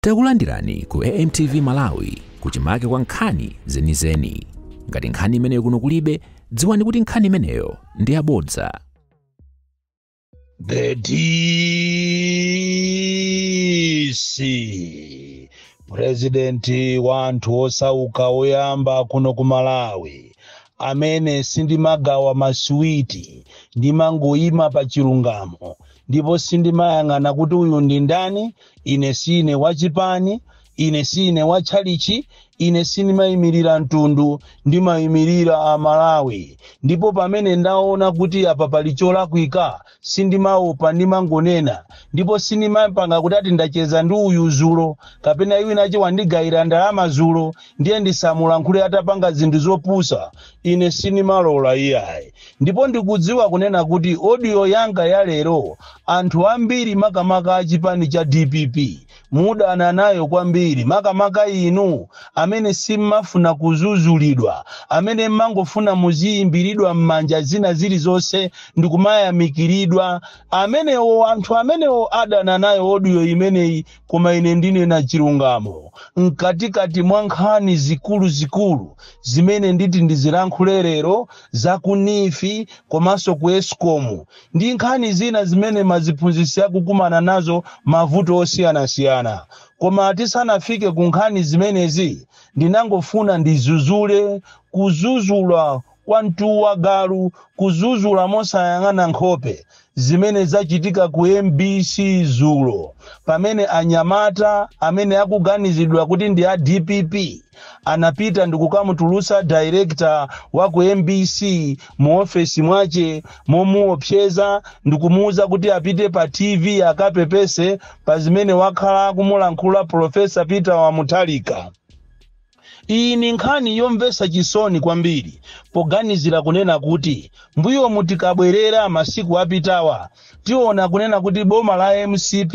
Takulandirani ku AMTV Malawi kuchimake kwa nkhani zenizeni. Ngati nkhani imeneyo kuno kulibe, dziwani kuti nkhani imeneyo ndi yabodza. The DC purezidenti wa anthu osauka oyamba kuno ku Malawi amene sindimagawa masiwiti ndimangoyima pa chilungamo ndipo sindimayang'ana kuti uyu ndi ndani ine sine wachipani ine sine watchalitchi ine sindimayimirira mtundu ndimayimirira amalawi ndipo pamene ndaona kuti apa pali cholakwika sindimaopa ndimangonena ndipo sindimapanga kuti ati ndacheza ndi uyu zulo kapena winawache wandigayira ndalama zulo ndiye ndisamulankhule atapanga zinthu zopusa Ine sinimalola iyayi ndipo ndikudziwa kunena kuti audio yanga ya lero anthu ambiri makamaka a chipani cha dpp mudana nayo kwambiri makamaka inu amene simmafuna kuzuzulidwa amene mmangofuna muziyimbiridwa m'manja zina zilizonse ndikumayamikiridwa amenewo anthu amenewo adana nayo audio imeneyi Koma ine ndinena chilungamo mkatikati mwa nkhani zikuluzikulu zimene nditi ndizilankhule lero, za ku neef komanso ku escom ndi nkhani zina zimene maziphunzitsi akukumana nazo mavuto osiyanasiyana. Koma tisanafike ku nkhani zimenezi ndinangofuna ndizuzule kuzuzula kwa mtu wa galu kuzuzula mosayang'ana nkhope zimene zachitika ku mbc zulo pamene anyamata amene akuganizidwa kuti ndi a dpp anapita ndikukamutulusa director wa ku mbc mu ofesi mwache momuopseza ndikumuuza kuti apite pa tv akapepese pa zimene wakhala akumulankhula profesa peter wa mutharika Iyi ni nkhani yomvetsa chisoni kwambiri poganizira kunena kuti mbuyomu tikabwerera masiku apitawa tiona kunena kuti boma la mcp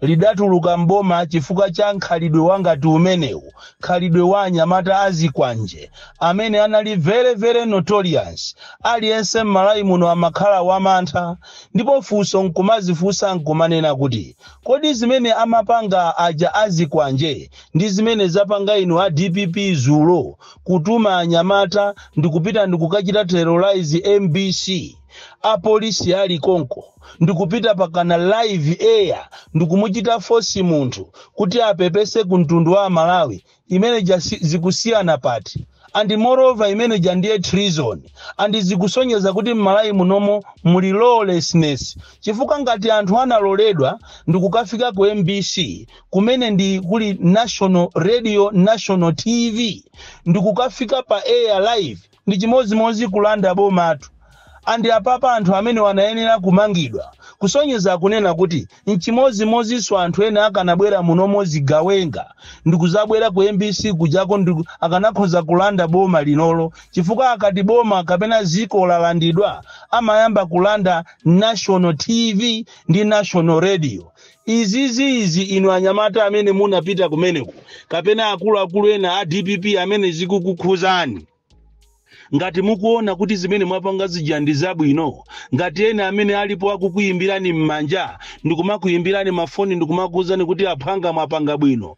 lidatuluka m'boma chifukwa cha nkhalidwe wa ngati umenewu, khalidwe wa anyamata a zikwanje amene anali very very notorious, aliyense m'Malawi muno amakhala wa mantha ndipo funso nkumazifunsa nkumanena kuti kodi zimene amapanga aja a zikwanje ndi zimene zapanga inu a dpp zulo kutuma anyamata ndikupita ndikukachita terrorize mbc apolisi ali konko ndikupita pakana live air ndikumuchita fosi munthu kuti apepese ku mtundu wa amalawi imene ija zi- zikusiyana pati and moreover imene ija ndiye treason and zikusonyeza kuti mmalawi munomo muli lawlessness chifukwa ngati anthu analoledwa ndikukafika ku mbc kumene ndi kuli national radio national tv ndikukafika pa air live ndi chimodzimodzi kulanda bomatu and apapa anthu amene awa anayenera kumangidwa kusonyeza kunena kuti Nchimodzimodzinso anthu ena akanabwera munomo zigawenga ndikuzabwera ku mbc kujako akanakhoza kulanda boma linolo chifukwa akati boma kapena ziko lalandidwa amayamba kulanda national tv ndi national radio. Izi izi inu anyamata amene munapita kumeneku kapena akuluakulu ena a dpp amene zikukukhuzani. ngati mukuona kuti zimene mwapanga zija ndi zabwino ngati ena amene alipo akukuyimbirani m'manja ndikumakuyimbirani mafoni ndikumakuwuzani kuti aphwanga mwapanga bwino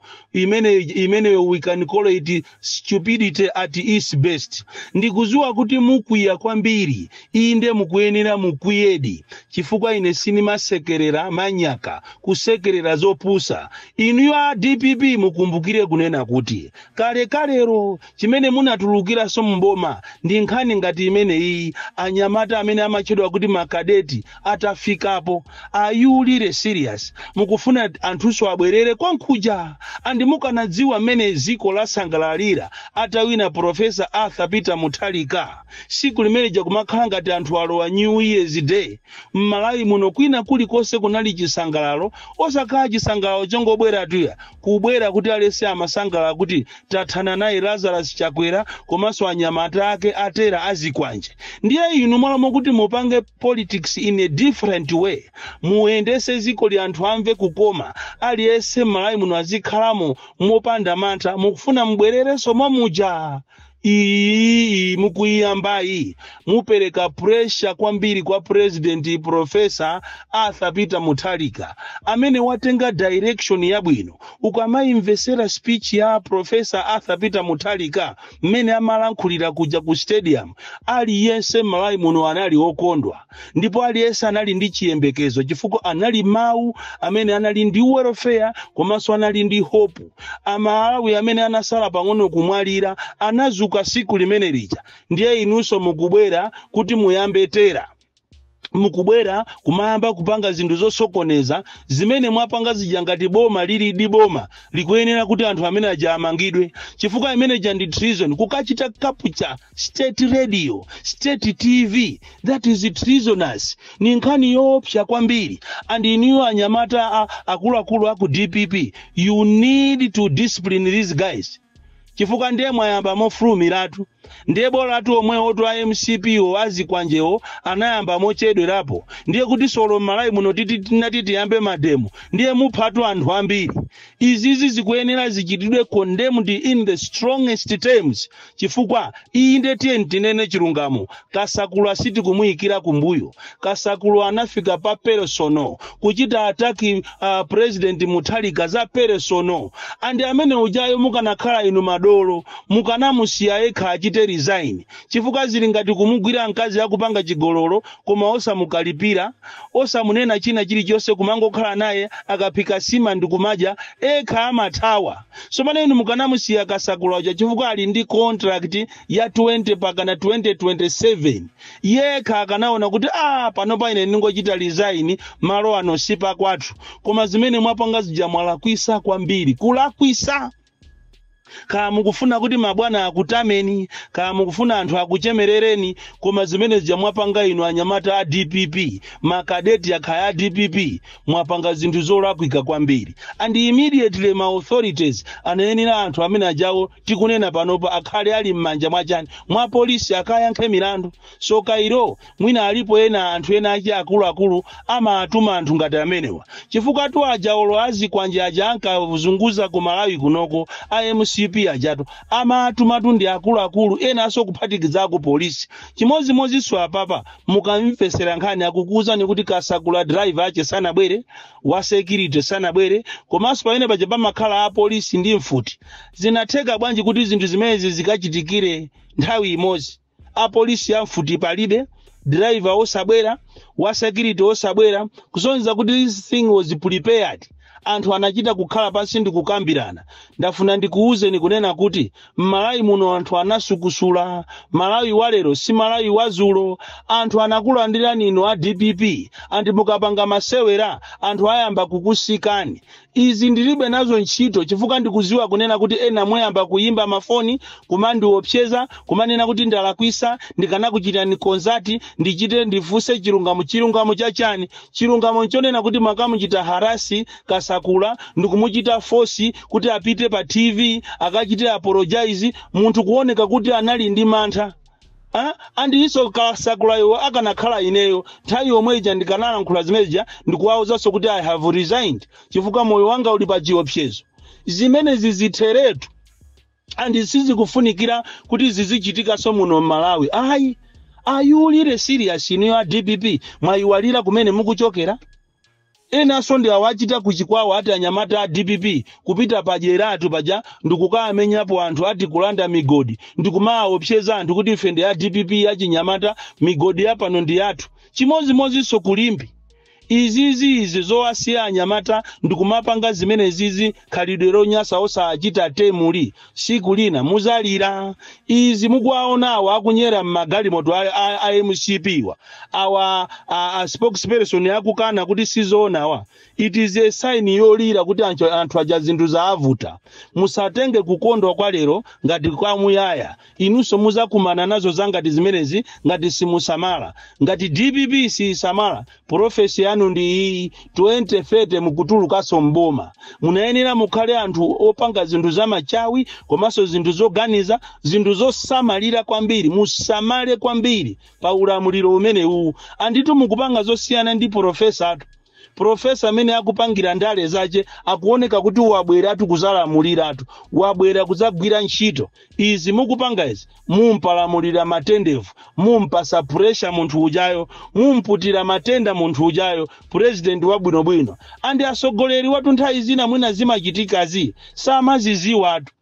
imeneyo we can call it stupidity at its best ndikuziwa kuti mukwiya kwambiri inde mukuyenera mukwiyedi chifukwa ine sinimasekerera manyaka kusekerera zopusa inuyo a dpp mukumbukire kunena kuti kale kalero chimene munatulukiranso m'boma ndi nkhani ngati imeneyiyi anyamata amene amatchedwa kuti makadeti atafikapo are you really serious mukufuna anthunso abwerere kwankhuja and mukanadziwa mmene dziko lasangalalira atawina profesa arthur peter mutharika siku limeneja kumakhala ngati anthu alowa new year's day m'malawi muno kwina kulikonse kunali chisangalalo osakhala chisangalalo chongobweratu iyayi kubwera kuti aliyese amasangalala kuti tathana naye lazarus chakwera komanso anyamata ake atera azikwanje ndiye inu m'malo mokuti mupange politics in a different way muyendese zikoli anthu amve kukoma aliyese m'malawi muno azikhalamo mopanda mantha mukufuna mubwererenso momuja iyi mukuyiyambayi mupereka pressure kwambiri kwa president profesa arthur peter mutharika amene watenga direction yabwino ukamayimvesera speech ya profesa arthur peter mutharika mmene amalankhulira kuja ku stadium aliyense m'malawi muno anali okondwa ndipo aliyense anali ndi chiyembekezo chifukwa anali mawu amene anali ndi welfare komanso anali ndi hope amalawi amene anasala pang'ono kumwalira anazuka siku limene lija ndiye inunso mukubwera kuti muyambe tera mukubwera kumayamba kupanga zinthu zosokoneza zimene mwapanga zija ngati boma lilidi boma likuyenera kuti anthu amene aja amangidwe chifukwa imene ija ndi treason kukachita capture state radio state tv that is treasonous ni nkhani yoopsa kwambiri and iniyo anyamata a- akuluakulu aku dpp you need to discipline these guys chifukwa ndiye mwayamba mofulumiratu ndiye bolatu omwewotu a mcp-wo azikwanjewo anayamba mochedwerapo ndiye kuti solo m'malawi muno titi tinati tiyambe mademo ndiye muphatu anthu ambiri izizi zikuyenera zichitidwe condemned in the strongest terms chifukwa inde tiyeni tinene chilungamo kasakula sitikumuyikira kumbuyo kasakula anafika pa personal kuchita ataki uh, president mutharika za personal andi amene ujayo mukanakhala inu madolo mukanamusiya yekha achite resign chifukwa zili ngati kumugwira mkazi akupanga chigololo koma osamukalipira osamunena china chilichonse kumangokhala naye akaphika sima ndikumadya ekha amathawa so pano inu mukanamusiya kasakula uja chifukwa ali ndi contract ya 20 pakana 2027 yekha akanaona kuti a pano pa ine ndingochita resign malo ano si pakwathu koma zimene mwapanga zija mwalakwisa kwambiri kulakwisa kaya mukufuna kuti mabwana akutameni kaya mukufuna anthu akuchemerereni koma zimene zija mwapanga inu anyamata a dpp makadeti akhaya a dpp mwapanga zinthu zolakwika kwambiri and immediately ma authorities anayenera anthu amene ajawo tikunena panopa akhale ali m'manja mwachani mwa polisi akayankhe milandu so kairo mwina alipo ena anthu ena achi akuluakulu amatuma anthu ngati amenewa chifukwatu aja olo azikwanje aja ankazunguza ku malawi kunoko a mcp ajatu amatumatu ndi akuluakulu enanso kuphatikiza ku polisi chimodzimodzinso apapa mukamvesera nkhani akukuwuzani kuti kasakula driver ache sanabwere wa security sanabwere komanso pamene paja pamakhala apolisi ndi mfuti zinatheka bwanji kuti zinthu zimenezi zikachitikire nthawi imodzi apolisi a mfuti palibe driver osabwera wa security osabwera kusonyeza kuti this thing was prepared Anthu anachita kukhala pansi ndikukambirana. Ndafuna ndikuuzeni kunena kuti m'Malawi muno anthu anasukusula. Malawi wa lero si Malawi wa zulo. Anthu anakulandirani inu a dpp and mukapanga masewera anthu ayamba kukusikani. Izi ndilibe nazo ntchito chifukwa ndikuziwa kunena kuti ena muyamba kuyimba mafoni kumandiopseza kumanena kuti ndalakwisa ndikanakuchitani contact ndichite ndifuse chilungamo. Chilungamo cha chani? Chilungamo nchonena kuti mwakamuchita harass Kasakula ndikumuchita force kuti apite pa TV akachite apologise munthu kuoneka kuti anali ndi mantha Ah, and inso kasakulayo akanakhala ineyo nthawi yomwe ija ndikanalankhula zimene zija ndikuwawuzanso kuti i have resigned chifukwa moyo wanga uli pa chiopsezo zimenezi zitheretu and sizikufunikira kuti zizichitikanso muno m'malawi ayi are you really serious inu a dpp mwayiwalira kumene mukuchokera enanso ndi awa achita kuchikwawa ati anyamata a dpp kupita pajeratu paja ndikukamenyapo anthu ati kulanda migodi ndikumaawopseza anthu kuti ife ndi a dpp achinyamata migodi yapano ndi yathu chimodzimodzinso kulimbe Izizi izi zowasiya anyamata ndikumapanga zimenezizi khalidwe lonyasa osachita tame liri siku lina muzalira izi mukuwaona awa akunyera mmagalimoto a, a, a mcp wa awa a, a spokesperson akukana kuti sizoona awa it is a sign yolira kuti anthu, anthu aja zinthu zaavuta musatenge kukondwa kwa lero ngati kwamuyaya Inunso muzakumana nazo zangati zimenezi ngati simusamala. Ngati dpp siyisamala prophecy yanu ndi iyiyi 2030 mukutulukanso m'boma. Munayenera mukhale anthu opanga zinthu za machawi komanso zinthu zoganiza, zinthu zosamalira kwambiri. Musamale kwambiri pa ulamuliro umenewuwu. Anditu mukupanga zosiyana ndi professor tu. profesa amene akupangira ndale zache akuoneka kuti wabweratu kuzalamuliratu wabwera kuzagwira ntchito izi mukupanga izi mumpalamulira matendevu mumpasa pressure munthu ujayo mumputira matenda munthu ujayo president wabwinobwino andi asogoleri watu nthawi zina mwina zimachitikazi samaziziwatu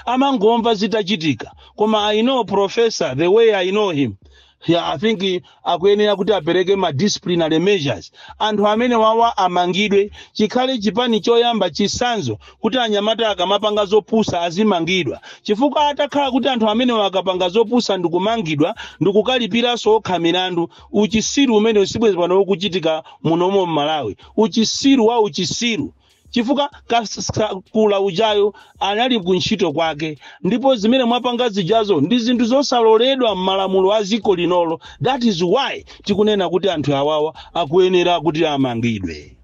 amangomva zitachitika koma i know professor the way i know him yeah, i think eh, akuyenera kuti apereke ma disciplinary measures anthu amene wawa amangidwe chikhale chipani choyamba chisanzo kuti anyamata akamapanga zopusa azimangidwa chifukwa atakhala kuti anthu amenewa akapanga zopusa ndikumangidwa ndikukalipiranso okha milandu uchisiru umenewu sibwezi pano ukuchitika munomo m'malawi uchisiru wa uchisiru chifukwa kasakula ujayo anali ku ntchito kwake ndipo zimene mwapanga zijazo ndi zinthu zosaloledwa m'malamulo a dziko linolo that is why tikunena kuti anthu awawa akuyenera kuti amangidwe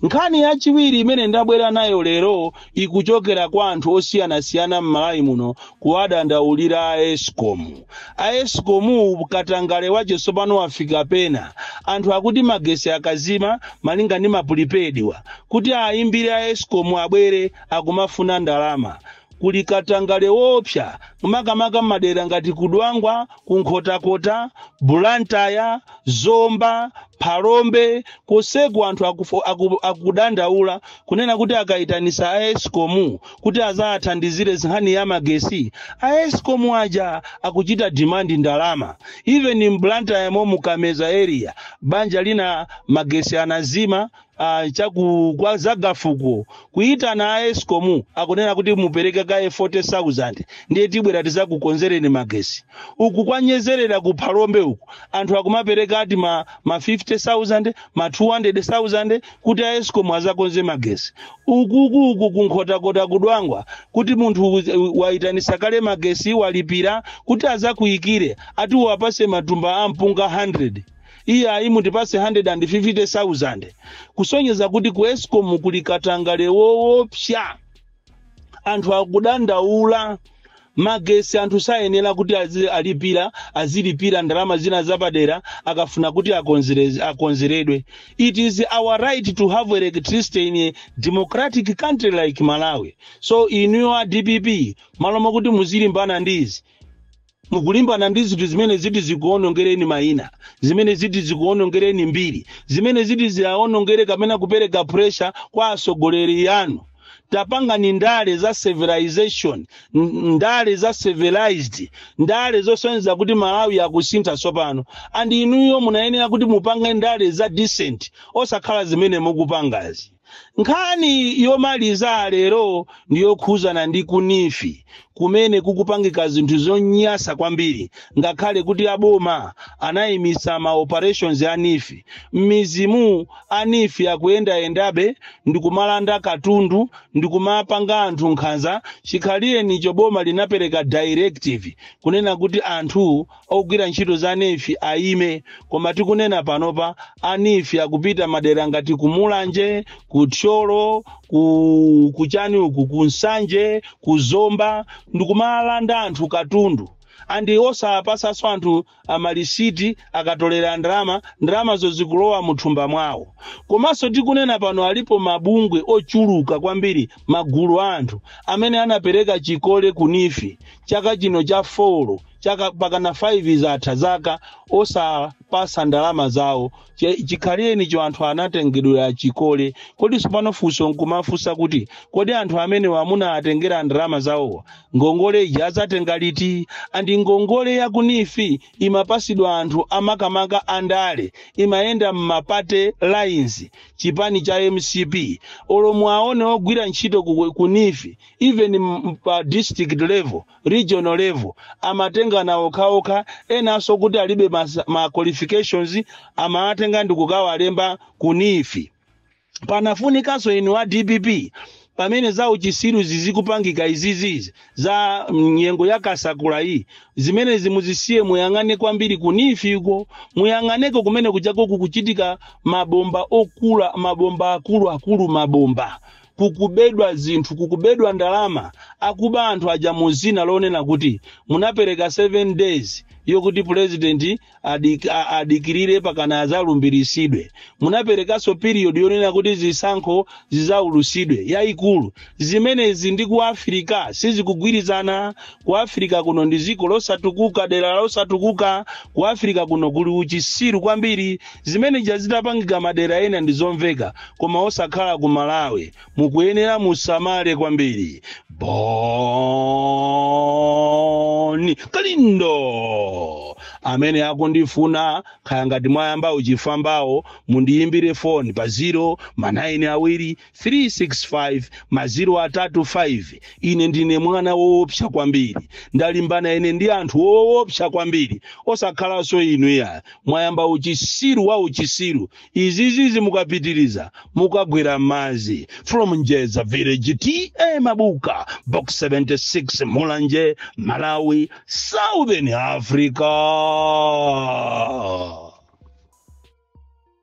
nkhani yachiwiri imene ndabwera nayo lero ikuchokera kwa anthu osiyanasiyana m'malawi muno kuwadandaulira a escom A escom wo katangale wache sopano wafika pena, anthu akuti magesi akazima malinga ndi ma prepaid wa kuti ayimbire a escom abwere akumafuna ndalama. Kuli katangale woopsa makamaka mmadera ngati ku Dwangwa, ku Nkhotakota, Blantyre, Zomba, Phalombe konseku anthu akudandaula kunena kuti akaitanisa a escom kuti azawathandizire nkhani ya magesi a escom aja akuchita demand ndalama even mblantyre mo mu kameza area banja lina magesi anazima uh, chaku kwa zagafuko kuitana a escom akunena kuti mupereke kaye 40000 ndiye tibwera tizakukonzereni magesi uku kwa nyezerera ku phalombe uku anthu akumapereka ati ma, ma 50000 ma 200000 kuti a escom azakonze magesi ukuku uku kunkhotakota kudwangwa kuti munthu u- wayitanisa kale magesi walipira kuti azakuyikire ati uwapase matumba a mpunga 100 iye ayi mutipase 150000 kusonyeza kuti ku escom kuli katangale woopsa anthu akudandaula magesi anthu sayenera kuti azi- alipira azilipira ndalama zina zapadera akafuna kuti akonzere- akonzeredwe it is our right to have electricity in a democratic country like malawi so inuyo a dpp malo mokuti muzilimbana ndi izi Mukulimbana ndi zinthu zimene ziti zikuwonongereni mayina, zimene ziti zikuwonongereni mbiri, zimene ziti ziawonongere kapena kupereka pressure kwa atsogoleri anu. Tapangani ndale za civilization, ndale za civilized, ndale zosonyeza kuti Malawi akusintha tsopano. And inuyo munayenera kuti mupange ndale za decent osakhala zimene mukupangazi. nkhani yomaliza lero ndi yokhuzana ndi ku NEEF kumene kukupangika zinthu zonyasa kwambiri ngakhale kuti aboma anayimitsa ma operations a NEEF mmizimu a NEEF akuyendayendabe ndikumalanda katundu ndikumapanga anthu nkhanza chikhalirenicho boma linapereka directive kunena kuti anthu ogwira ntchito za NEEF ayime koma tikunena panopa a NEEF akupita madera ngati ku mulanje ku thyolo ku kuchani uku ku nsanje ku zomba ndikumalanda anthu katundu andi osapasanso anthu amalisiti akatolera ndalama ndalamazo zikulowa muthumba mwawo komanso tikunena pano alipo mabungwe ochuluka kwambiri magulu a anthu amene anapereka chikole ku NEEF chaka chino cha 4 chaka pakana 5 zatha zaka osapasa ndalama zawo Che- chikhalirenicho anthu anatengedwera chikole kodi sopano funso nkumafunsa kuti kodi anthu amenewa munawatengera ndalama zawowa ngongole ija azatenga liti andi ngongole ya ku NEEF imapasidwa anthu amakamaka andale imayenda mma party lines chipani cha mcp olo muwaone ogwira ntchito ku- ku NEEF even m- pa district level regional level amatengana okhaokha enanso kuti alibe mas- ma qualifications amawatenga ndi kukawalemba ku NEEF panafunikanso inu a dpp pamene za uchisiruzi zikupangika izizizi za nyengo ya kasakula iyi zimenezi muzisiye muyang'ane kwambiri ku NEEF uko muyang'aneko kumene kujako kukuchitika mabomba okula mabomba akuluakulu mabomba kukubedwa zinthu, kukubedwa ndalama, akuba anthu aja mu dzina lonena kuti munapereka 7 days yokuti pulezidenti adik, a- adikirire pakana azalumbirisidwe munaperekanso period yonena kuti zisankho zizaulusidwe yayikulu zimenezi ndi ku afirika sizikugwirizana ku afirika kuno ndi dziko losatukuka dera losatukuka ku afirika kuno kuli uchisiru kwambiri Zimene zija zitapangika madera ena ndizomveka koma osakhala ku Malawi mukuyenera musamale kwambiri. Boni Kalindo amene akundifuna kaya ngati mwayamba uchifwambawo mundiyimbire foni pa 0 ma 9 awiri 3 6 5 maziro atatu 5 ine ndine mwana woopsa kwambiri ndalimbana ine ndi anthu woopsa kwambiri osakhalanso inu iya mwayamba uchisiru wa uchisiru izizizi mukapitiriza mukagwera m'madzi from njeza village ta mabuka box 76 mulanje malawi southern africa